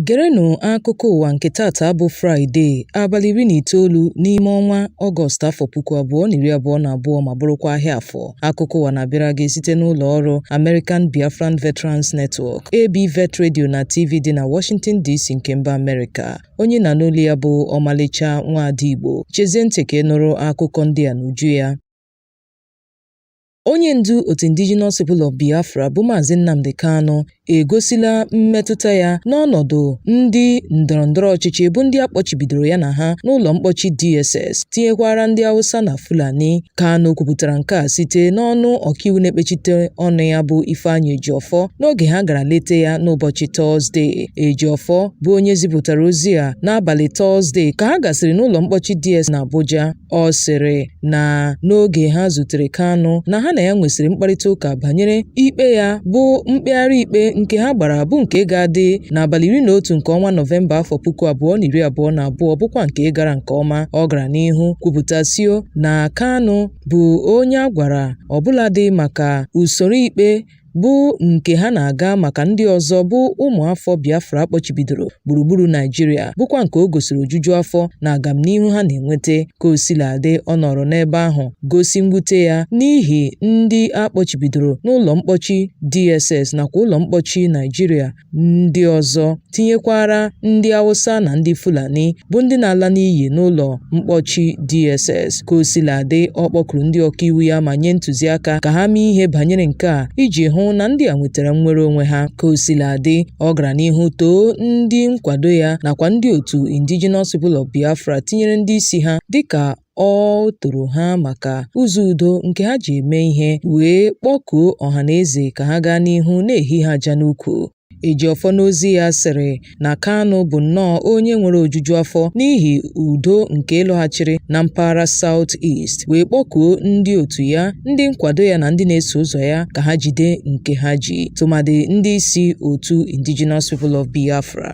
Gerenụ akụkọ ụwa nke tata bụ Fraịde, abalị iri na itoolu n'ime ọnwa Ọgọst afọ puku abụọ na iri abụọ na abụọ ma bụrụkwa ahịa afọ. Akụkọ ụwa na-abịara gị site n'ụlọ ọrụ American Biafran Veterans Network, ABVET Radio na TV dị na Washington DC nke mba Amerịka. onye ị na-anụ olu ya bụ ọmalịcha nwaada Igbo chezie ntị ka ị nụrụ akụkọ ndị a n'uju ya onye ndu otu Indigenous People of Biafra bụ Maazị Nnamdi Kanu egosila mmetụta ya n'ọnọdụ ndị ndọrọndọrọ ọchịchị bụ ndị a kpọchibidoro ya na ha n'ụlọ mkpọchi DSS tinyekwara ndị Hausa na Fulani. Kanu kwupụtara nke a site n'ọnụ ọkaiwu na-ekpechite ọnụ ya bụ Ifeanyi Ejiofor n'oge ha gara leta ya n'ụbọchị Tọzdee. Ejiofor bụ onye zipụtara ozi a n'abalị Tọzdee ka ha gasịrị n'ụlọ mkpọchi DS n'Abuja. Ọ sịrị na n'oge ha zutere Kanu na ha na ya nwesịrị mkparịta ụka banyere ikpe ya bụ mkpegharị ikpe nke ha gbara bụ nke ga-adị n'abalị iri na otu nke ọnwa Nọvemba afọ puku abụọ na iri abụọ na abụọ bụkwa nke gara nke ọma. Ọ gara n'ihu kwupụta sio na Kanu bụ onye a gwara ọbụladị maka usoro ikpe bụ nke ha na-aga maka ndị ọzọ bụ ụmụafọ Biafra a kpọchibidoro gburugburu Naịjirịa bụkwa nke o gosiri ojuju afọ na agamnihu ha na-enweta. Ka o sila dị, ọ nọrọ n'ebe ahụ gosi mwute ya n'ihi ndị a kpọchibidoro n'ụlọ mkpọchi DSS nakwa ụlọ mkpọchi Naịjirịa ndị ọzọ tinyekwara ndị Hausa na ndị Fulani bụ ndị na-ala n'iyi n'ụlọ mkpọchi DSS. Ka o sila dị, ọ kpọkuru ndị ọkaiwu ya ma nye ntụziaka ka ha mee ihe banyere nke a iji hụ na ndị a nwetara nnwere onwe ha. Ka o sila dị, ọ gara n'ihu too ndị nkwado ya nakwa ndị otu Indigenous People of Biafra tinyere ndị isi ha dịka o toro ha maka ụzọ udo nke ha ji eme ihe wee kpọkuo ọha na eze ka ha gaa n'ihu na-ehi ha aja n'ukwu. Ejiofor n'ozi ya sịrị na Kanu bụ nnọọ onye nwere ojuju afọ n'ihi udo nke lọghachiri na mpaghara South East wee kpọkuo ndị otu ya, ndị nkwado ya na ndị na-eso ụzọ ya ka ha jide nke ha ji, tụmadị ndị isi otu Indigenous People of Biafra.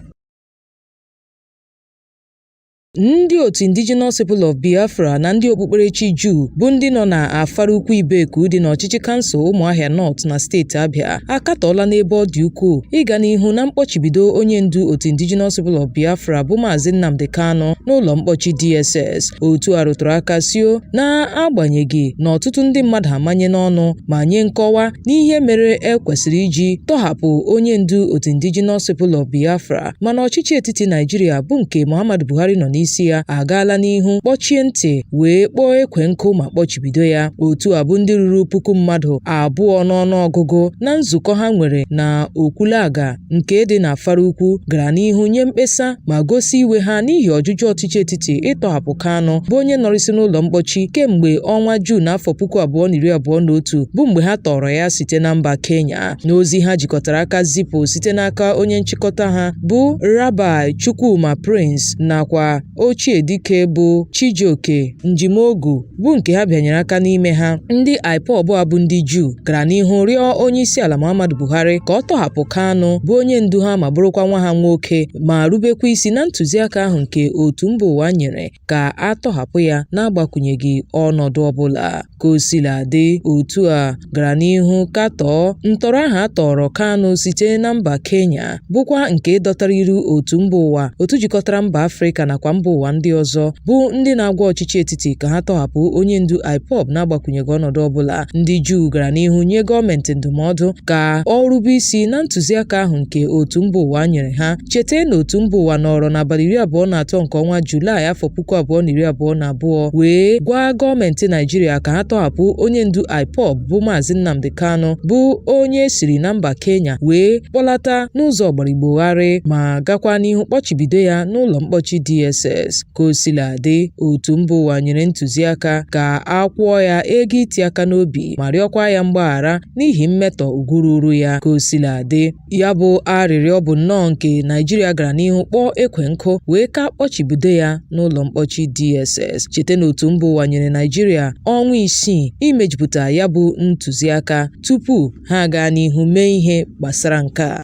Ndị otu Indigenous People of Biafra na ndị okpukperechi Juu bụ ndị nọ na Afaraukwu Ibeku dị n'ọchịchị kansụl Ụmụahịa North na steeti Abịa akatọọla n'ebe ọ dị ukwuu ịga n'ihu na mkpọchibido onye ndu otu Indigenous People of Biafra bụ Maazị Nnamdi Kanu n'ụlọ mkpọchi DSS. Otu a rụtụrụ aka sio n'agbanyeghị na ọtụtụ ndị mmadụ amanyena ọnụ ma nye nkọwa n'ihe mere e kwesịrị iji tọhapụ onye ndu otu Indigenous People of Biafra mana ọchịchị etiti Naijiria bụ nke Muhammadu Buhari nọ n'isi ya agaala n'ihu kpọchie ntị wee kpọọ ekwe nkụ ma kpọchibido ya otu a bụ ndị ruru puku mmadụ abụọ n'ọnụ ọgụgụ na nzukọ ha nwere na Okwulaga nke dị na Afara Ukwu gara n'ihu nye mkpesa ma gosi iwe ha n'ihi ọjụjụ ọchịchị etiti ịtọhapụ Kanu bụ onye nọrịsị n'ụlọ mkpọchi kemgbe ọnwa Juun afọ puku abụọ na iri abụọ na otu bụ mgbe ha tọọrọ ya site na mba Kenya N'ozi ha jikọtara aka zipụ site n'aka onye nchịkọta ha bụ Rabbi Chukwuma Prince nakwa ochie dike bụ Chijioke Njimogu bụ nke ha bịanyere aka n'ime ha, ndị IPOB a bụ ndị Juu gara n'ihu rịọ onyeisiala Muhammadu Buhari ka ọ tọhapụ Kanu bụ onye ndu ha ma bụrụkwa nwa ha nwoke ma rubekwa isi na ntụziaka ahụ nke otu mba ụwa nyere ka a tọhapụ ya n'agbakwụnyeghị ọnọdụ ọbụla. Ka o sila dị, otu a gara n'ihu katọọ ntọrọ ahụ a tọọrọ Kanu site na mba Kenya, bụkwa nke dọtara iru otu mba ụwa, otu jikọtara mba Afrịka nakwa mba ụwa ndị ọzọ, bụ ndị na-agwa ọchịchị etiti ka ha tọhapụ onye ndu IPOB n'agbakwụnyeghị ọnọdụ ọbụla. Ndị Juu gara n'ihu nye gọọmentị ndụmọdụ ka ọ rube isi na ntụziaka ahụ nke otu mba ụwa nyere ha. Cheta na otu mba ụwa nọọrọ n'abalị iri abụọ na atọ nke ọnwa Julaị afọ puku abụọ na iri abụọ na abụọ wee gwa gọọmenti Naịjirịa ka ha tọhapụ onye ndu IPOB bụ Maazị Nnamdi Kanu bụ onye e siri na mba Kenya wee kpọlata n'ụzọ ọgbaraigbogharị ma gakwa n'ihu kpọchibido ya n'ụlọ mkpọchi DSS ka o sila dị otu mba ụwa nyere ntụziaka ka a kwụọ ya ego iti aka n'obi ma rịọkwa ya mgbaghara n'ihi mmetọ ugwu ruru ya ka o sila dị Ya bụ arịrịọ bụ nnọọ nke Naịjirịa gara n'ihu kpọọ ekwe nkụ wee ka kpọchibido ya n'ụlọ mkpọchi DSS. Cheta na otu mba ụwa nyere Naịjirịa ọnwa isii imejupụta ya bụ ntụziaka tupu ha agaa n'ihu mee ihe gbasara nke a.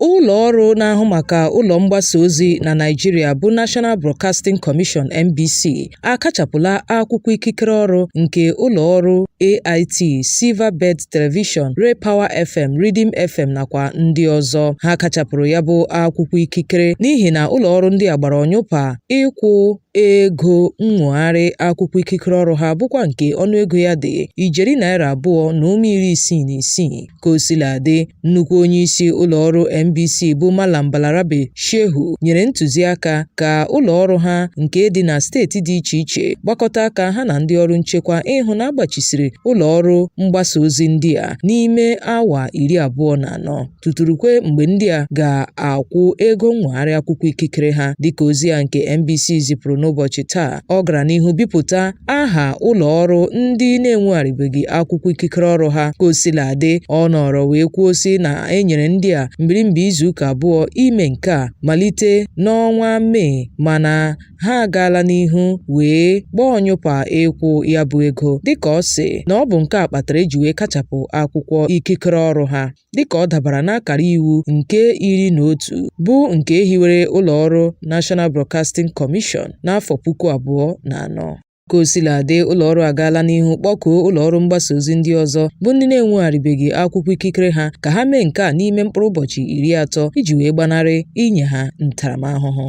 Ụlọ ọrụ na-ahụ maka ụlọ mgbasa ozi na Naịjirịa bụ National Broadcasting Commission (NBC) akachapụla akwụkwọ ikikere ọrụ nke ụlọ ọrụ AIT, Silverbird Television, Raypower FM, Rhythm FM nakwa ndị ọzọ. Ha kachapụrụ ya bụ akwụkwọ ikikere n'ihi na ụlọ ọrụ ndị a gbara ọnyụpa ịkwụ ego nnwogharị akwụkwọ ikikere ọrụ ha bụkwa nke ọnụego ya dị ijeri naira abụọ na ụma iri isii na isii. Ka o sila dị, nnukwu onye isi ụlọ ọrụ NBC bụ Malam Balarabe Shehu nyere ntụziaka ka ụlọ ọrụ ha nke dị na steeti dị iche iche gbakọta aka ha na ndị ọrụ nchekwa ịhụ na a gbachisiri ụlọ ọrụ mgbasa ozi ndị a n'ime awa iri abụọ na anọ tutu rukwe mgbe ndị a ga-akwụ ego nnwogharị akwụkwọ ikikere ha dịka ozi a nke NBC zipụrụ n'ụbọchị taa ọ gara n'ihu bipụta aha ụlọ ọrụ ndị na-enwegharịbeghị akwụkwọ ikikere ọrụ ha ka o sila dị ọ nọrọ wee kwuo sị na e nyere ndị a mbirimbi izuụka abụọ ime nke a malite n'ọnwa mee mana ha agaala n'ihu wee gbaa ọnyụpa ịkwụ ya bụ ego dịka ọ sị na ọ bụ nke a kpatara e ji wee kachapụ akwụkwọ ikikere ọrụ ha dịka ọ dabara n'akara iwu nke iri na otu bụ nke e hiwere ụlọọrụ National Broadcasting Commission n'afọ puku abụọ na anọ. Ka o sila dị, ụlọọrụ agaala n'ihu kpọkuo ụlọọrụ mgbasa ozi ndị ọzọ bụ ndị na-enwegharịbeghị akwụkwọ ikikere ha ka ha mee nke a n'ime mkpụrụ ụbọchị iri atọ iji wee gbanarị inye ha ntaramahụhụ.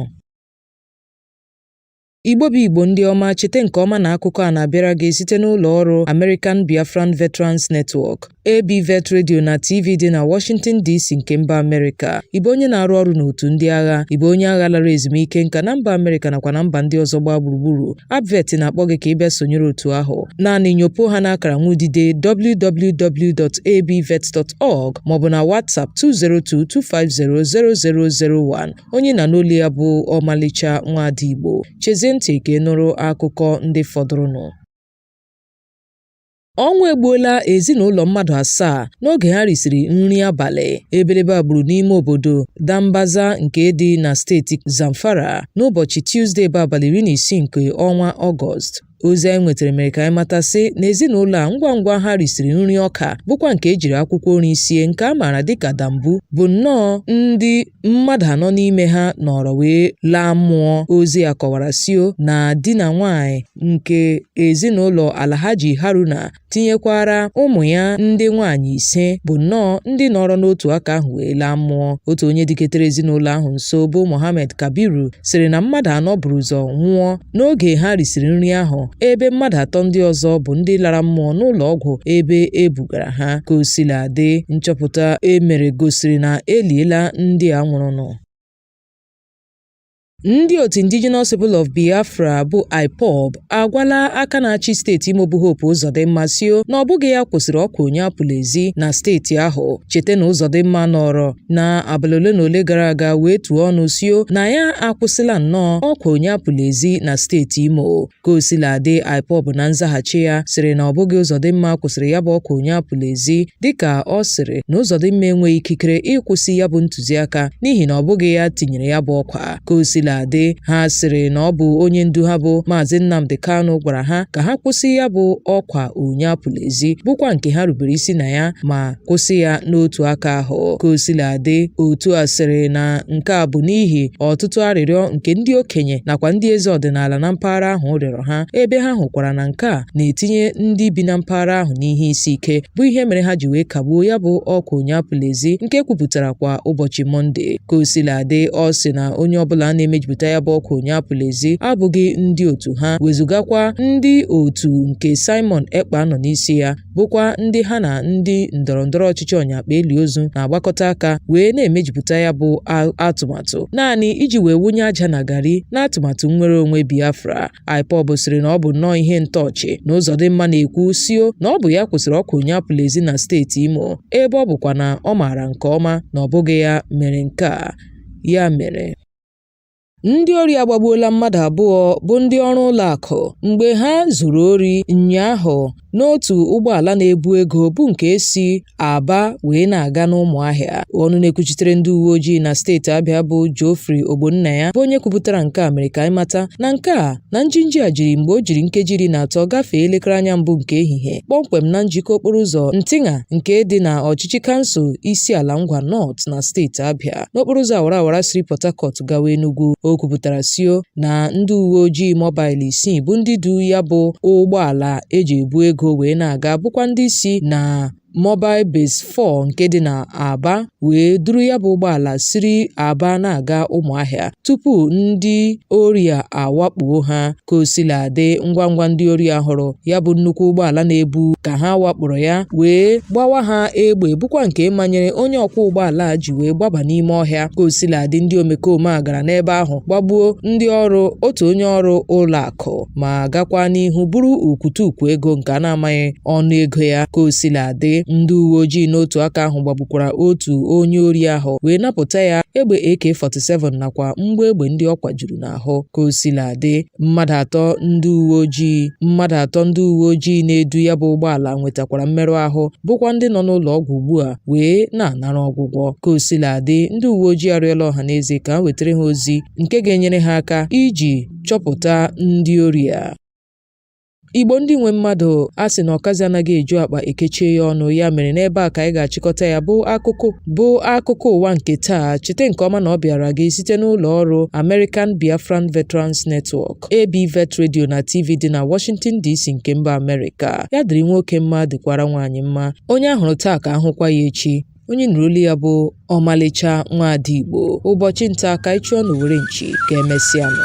Igbo bụ Igbo ndị ọma chete nke ọma na akụkọ a na-abịara gị site n'ụlọ ọrụ American Biafran Veterans Network ABVET Radio na TV dị na Washington DC nke mba Amerịka ị bụ onye na-arụ ọrụ n'otu ndị agha ị bụ onye agha lara ezumike nka na mba Amerịka nakwa na mba ndị ọzọ gbaa gburugburu ABVET na-akpọ gị ka ị bịa sonyere otu ahụ naanị nyopo ha n'akara nwudide www.abvet.org maọbụ na WhatsApp 202 250 0001 onye ị na-anụ olu ya bụ ọmalịcha nwaada Igbo chezie ntị ka ị nụrụ akụkọ ndị fọdụrụnụ ọnwụ egbuola ezinụlọ mmadụ asaa n'oge ha risiri nri abalị ebelebe a gburu n'ime obodo dambaza nke dị na steeti zamfara n'ụbọchị tuzdee bụ abalị iri na isii nke ọnwa ọgọst Ozi anyị nwetara mere ka anyị mata sị na ezinụlọ a ngwa ngwa ha risiri nri ọka bụkwa nke e jiri akwụkwọ nri sie nke a maara dịka dambu bụ nnọọ ndị mmadụ anọ n'ime ha nọrọ wee laa mmụọ. Ozi a kọwara sio na di na nwaanyị nke ezinụlọ Alhaji Haruna tinyekwara ụmụ ya ndị nwaanyị ise bụ nnọọ ndị nọrọ n'otu aka ahụ wee laa mmụọ otu onye dịketere ezinụlọ ahụ nso bụ Mohammed Kabiru sịrị na mmadụ anọ buru ụzọ nwụọ n'oge ha risiri nri ahụ ebe mmadụ atọ ndị ọzọ bụ ndị lara mmụọ n'ụlọ ọgwụ ebe e bugara ha ka o sila dị nchọpụta e mere gosiri na e liela ndị a nwụrụnụ Ndị otu Indigenous People of Biafra bụ IPOB agwala aka na-achị steeti Imo bụ Hope Uzodimma sio na ọ bụghị ya kwụsịrị ọkwa onye apụla ezi na steeti ahụ. Chete na Uzodimma nọrọ na abalị ole na ole gara aga wee tuo ọnụ sio na ya akwụsịla nnọọ ọkwa onye apụla ezi na steeti Imo. Ka o sila dị, IPOB na nzaghachi ya sịrị na ọ bụghị Uzodimma kwụsịrị ya bụ ọkwa onye apụla ezi dịka ọ sịrị na Uzodimma enweghị ikikere ịkwụsị ya bụ ntụziaka n'ihi na ọ bụghị ya tinyere ya bụ ọkwa. Ka o sila dị, ha sịrị na ọ bụ onye ndu ha bụ Maazị Nnamdi Kanu gwara ha ka ha kwụsị ya bụ ọkwa onye apụla ezi bụkwa nke ha rubere isi na ya ma kwụsị ya n'otu aka ahụ ka o sila dị otu a sịrị na nke a bụ n'ihi ọtụtụ arịrịọ nke ndị okenye nakwa ndị eze ọdịnala na mpaghara ahụ rịọrọ ha ebe ha hụkwara na nke a na-etinye ndị bi na mpaghara ahụ n'ihe isi ike bụ ihe mere ha ji wee kagbuo ya bụ ọkwa onye apụla ezi nke kwupụtara kwa ụbọchị mọnde ka o sila dị ọ sị na onye ọbụla na-emejupụta ya bụ ọkwa onye apụla ezi abụghị ndị otu ha wezụgakwa ndị otu nke Simon Ekpa nọ n'isi ya bụkwa ndị ha na ndị ndọrọ ndọrọ ọchịchị ọnyakpa eli ozu na-agbakọta aka wee na-emejupụta ya bụ atụmatụ naanị iji wee wunye aja na gari n'atụmatụ nnwere onwe Biafra IPOB sịrị na ọ bụ nnọọ ihe ntọ ọchị na Uzodimma na-ekwu sio na ọ bụ ya kwụsịrị ọkwa onye apụla ezi na steeti Imo ebe ọ bụkwa na ọ maara nke ọma na ọ bụghị ya mere nke a ya mere Ndị ori agbagbuola mmadụ abụọ bụ ndị ọrụ ụlọakụ mgbe ha zuru ori ụnyaahụ n'otu ụgbọala na-ebu ego bụ nke si Aba wee na-aga n'Ụmụahịa. Ọnụ na-ekwuchitere ndị uwe ojii na steeti Abịa bụ Geoffrey Ogbonnaya bụ onye kwupụtara nke a mere ka anyị mata na nke a na njinji a jiri mgbe o jiri nkeji iri na atọ gafee elekere anya mbụ nke ehihie kpọmkwem na njikọ okporo ụzọ Ntigha nke dị na ọchịchị kansụl Isiala Ngwa North na steeti Abịa n'okporo ụzọ awara awara siri Port Harcourt gawa Enugu o kwupụtara sio na ndị uwe ojii mọbail isii bụ ndị du ya bụ ụgbọala e ji ebu ego wee na-aga bụkwa ndị si na Mobile Base 4 nke dị na Aba wee duru ya bụ ụgbọala siri Aba na-aga Ụmụahịa tupu ndị ori a awakpuo ha. Ka o sila dị, ngwa ngwa ndị ori hụrụ ya bụ nnukwu ụgbọala na-ebu ka ha wakporo ya wee gbawa ha egbe bụkwa nke manyere onye ọkwọ ụgbọala a ji wee gbaba n'ime ọhịa. Ka o sila dị, ndị omekome a gara n'ebe ahụ gbagbuo ndị ọrụ otu onye ọrụ ụlọ akụ. ma gakwa n'ihu buru ukwutukwu ego nke a na-amaghị ọnụ ego ya ka o sila dị ndị uwe ojii n'otu aka ahụ gbagbukwara otu onye ori ahụ wee napụta ya egbe AK-47 nakwa mgbọ egbe ndị ọ kwajuru n'ahụ ka o sila dị mmadụ atọ ndị uwe ojii na-edu ya bụ ụgbọala nwetakwara mmerụ ahụ bụkwa ndị nọ n'ụlọ ọgwụ ugbu a wee na-anara ọgwụgwọ ka o sila dị ndị uwe ojii arịọla ọha na eze ka ha wetara ha ozi nke ga-enyere ha aka iji chọpụta ndị ori a. Igbo ndị nwe mmadụ a sị na ọkazi anaghị eju akpa e kechie ya ọnụ ya mere n'ebe a ka anyị ga-achịkọta ya bụ bụ akụkọ ụwa nke taa chete nke ọma na ọ bịara gị site n'ụlọ ọrụ American Biafran Veterans Network AB Vet Radio na TV dị na Washington DC nke mba Amerịka ya dịrị nwoke mma dịkwara nwaanyị mma onye a hụrụ taa ka a hụkwa ya echi onye nụrụ olu ya bụ ọmalịcha nwaada Igbo ụbọchị nta ka anyị chụọ n'owere nchi ka emesịa nụ